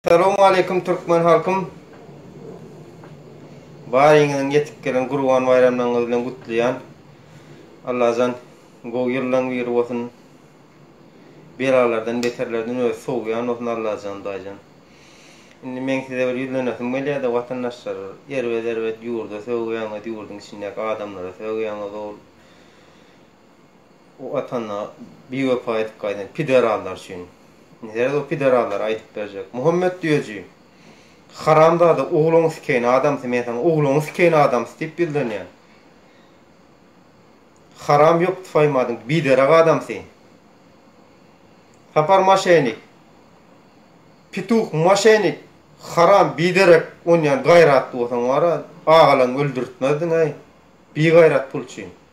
Salowmaleýkim Türkmen halkym Baryňyzyň ýetip gelen Gurban baýramlaryňyz bilen gutlaýan Allajan gowy ýyllaň biri bolsun Belalardan beterlerden özi sowýan bolsun Allajan daýjan Indi meň size bir ýüzlenesim gelýärde watandaşlar erbet erbet ýurda sögýäňiz ýurdyň içindäki adamlara sögýäňiz ol O atana biwepa edip gaýdan piderallar üçin nirede o piderallar aýdyp berjek Muhammet düýeji haramzada ogluňy sikeýin adamsy men saňa ogluňy sikeýin adamsy diýip ýyldanýan haram ýok tufaýmadyň biderek adamsy Sapar maşenik pituh maşenik haram biderek onýan gaýratly bolsaň wara agalaň öldürtmezdiň-eý bigaýrat pul üçin.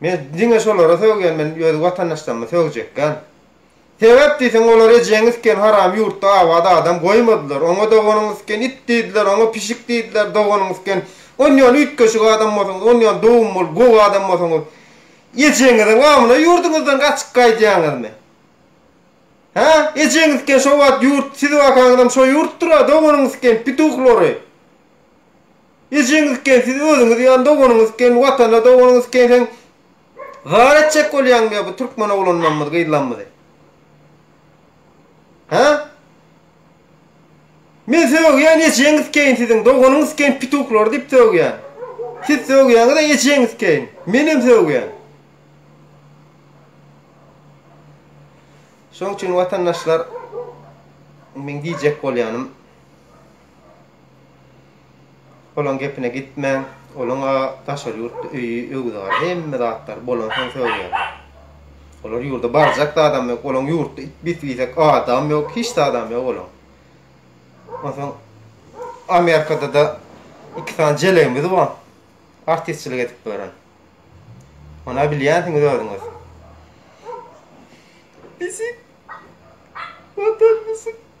Men diňe şolara sögýän men öz watandaşlarymy sögjekgän. Sebäp diýseň olar ejeňi sken haram ýurtda abat adam goýmadylar oňa doganyňy sken it diýdiler oňa pişik diýdiler doganyňy sken onýan üýtgeşik adam bolsaňyz onýan dowum bolup gowy adam bolsaňyz ejeňiziň gamyna ýurduňyzdan gaçyp gaýdýaňyzmy hä ejeňiz sken şo wagt ýurt sizi bakaňyzam şo ýurtdyra doganyňy sken pituhlary. Ejeňiz ken siz özüňiz ýan doganyňyz ken watana doganyňyz ken seň zar etjek bolýaňmy ýa bu türkmen oglanlamyz gyzlamyzy hä men sögýän ejeňiz ken siziň doganyňyz ken pituhlary diýip sögýän siz sögýäňiz a ejeňiz ken menem sögýän şoň üçin watandaşlar meň diýjek bolýanym. Olaň gepine gitmäň, olaň-a daşary ýurtda öýi, öwüzgary, hemme zatlary bolansoň söz berdi. Olar ýurda barjak zadam ýok, olaň ýurtda it bis-bisek adam ýok, hiç zadam ýok olaň. Onsoň Amerikada-da iki sany jelegimiz bar, artistçilik edip ýören. Ony-a bilýänsiňiz özüňiz. Bisik, watan bisik.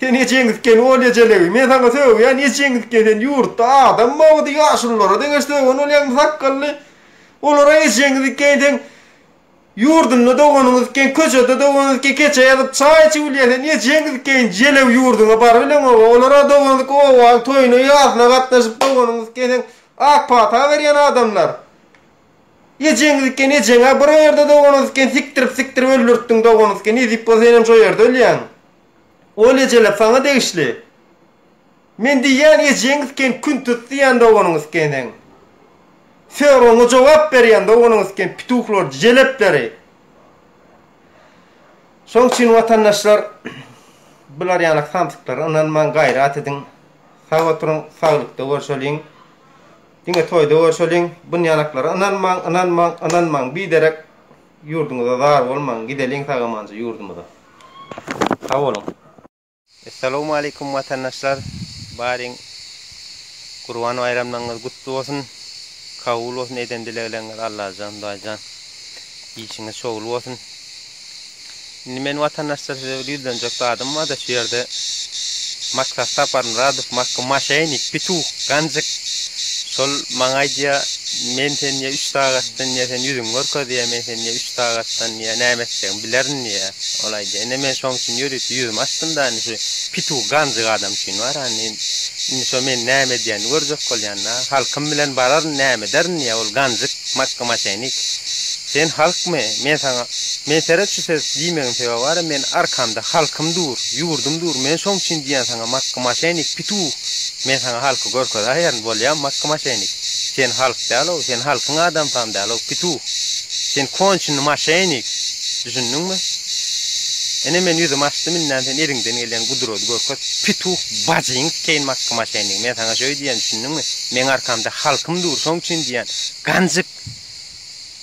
Sen ejeňiz eken ol ejelegi. Men saňa sögýän ejeňiz eken sen ýurtda adam bogdy ýaşulylara deňeş sögen bolýaňmy sakgally. Olara ejeňiz eken sen ýurdunda doganyňyz eken köçede doganyňyz eken keçe ýazyp çaý içip bilýän sen ejeňiz eken jelew ýurdyňa bar bileň oba olara doganyňyz eken obaň toýuna ýazyna gatnaşyp doganyňyz eken sen ak pata berýän adamlar. Ejeňiz eken ejeňä bir o ýerde doganat eken sikdirip sikdirip öldürtdiň doganat eken nezip bolsa senem şo ýerde ölýäň ol ejeler saňa degişli men diýýän ejeňiz eken küntüs diýýän doganyňyz eken seň soragyňa jogap berýän doganyňyz eken pituhlor jelepleri şoň üçin watandaşlar bular ýaly samsyklara ynanmaň gaýrat ediň sag oturyň saglykda görşeliň Diňe toýda görşeliň, bynýanaklara ynanmaň, ynanmaň, ynanmaň, biderek ýurduňyza zar bolmaň, gideliň sag-amanja ýurdumyza. Sag boluň. Essalowmaleýkum watandaşlar baryň Gurban baýramlaryňyz gutly bolsun kabul bolsun eden dilegleriňiz Allajan Hudaýjan işiňiz şowly bolsun. Indi men watandaşlar size bir ýüzlenjek zadym barda şu ýerde Maksa Saparmyradow makgy maşenik pituh ganjyk şol maňa aýdýa men sen ýa üç sagatdan ýa sen ýüzüňi görkez ýa men sen ýa üç sagatdan ýa näme etjegimi bilerin diýýä ol aýdýa ine men şoň üçin ýörite ýüzümi açdym da indi şu pituh ganjyk adam üçin bar a indi indi şo men näme edýänini görjek bolýan da halkym bilen bararyn näme ederin diýýä ol ganjyk makgy maşenik Sen halkmy? Men saňa, Men seret şu söz diýmegiň sebäbi bara men arkamda halkym dur, ýurdum dur, men şoň üçin diýýän saňa makgy maşenik, pituh! Men saňa halky görkezäýerin, bolýamy makgy maşenik? Sen halk däl-ow, sen halkyň adamsam däl-ow, pituh! Sen konçny maşenik! Düşündiňmi? Ine men ýüzüm açdym indän sen eliňden gelýän gudrady görkez, pituh! Bajyňy sikeýin makgy maşenik! Men saňa şöý diýýän, düşündiňmi? Meň arkamda halkym dur, şoň üçin diýýän, ganjyk!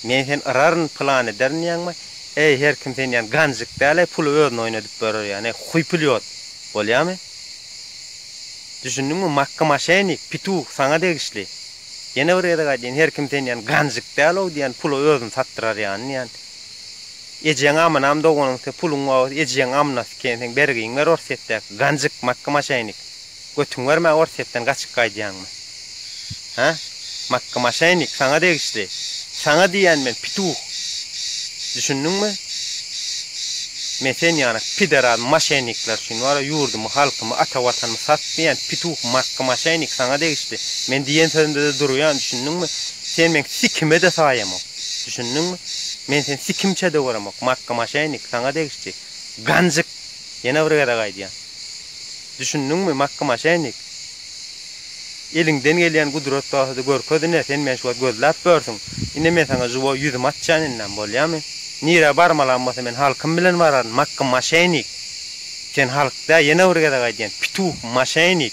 Men seni yraryn pylan ederin diýýäňmi? Eý her kim seni ýan ganjyk däl-eý puly özüne oýnadyp berer ýan eý huýpilýot. Bolýamy? Düşündiňmi makga maşennik, pituh saňa degişli. Ýene bir gezek aýdýan her kim seni ýan ganjyk däl-ow diýýän pula özüni satdyrar ýan diýýän. Ejeň amynam doganyň se puluň wagys ejeň amynasy eken seň bergiň ber orsýetdäki ganjyk makga maşennik. Götüň barmy Orsýetden gaçyp gaýdýaňmy? Hä? Makgy maşennik saňa degişli. Saňa diýýän men pituh. Düşündiňmi? Men sen ýanak pideral maşennikler üçin wara ýurdumy halkymy ata watanymy satmaýan pituh makgy maşennik saňa degişli. Men diýen sözümde-de durýan düşündiňmi? Sen meň sikime-de saýamok. Düşündiňmi? Men seni sikimçe-de göremok makgy maşennik saňa degişli. Ganjyk Ýene bir gezek aýdýan. Düşündiňmi, Makky maşennik? Eliňden gelýän gudrat barsady görkez ine, sen meni şu wagt gözläp börsiň. Ine men saňa žiwoý ýüzümi açýan indem, bolýamy? Nirä barmalam bolsa men halkym bilen bararyn, Makky maşennik! Sen halk dä, ýene bir gezek aýdýan, pituh, maşennik!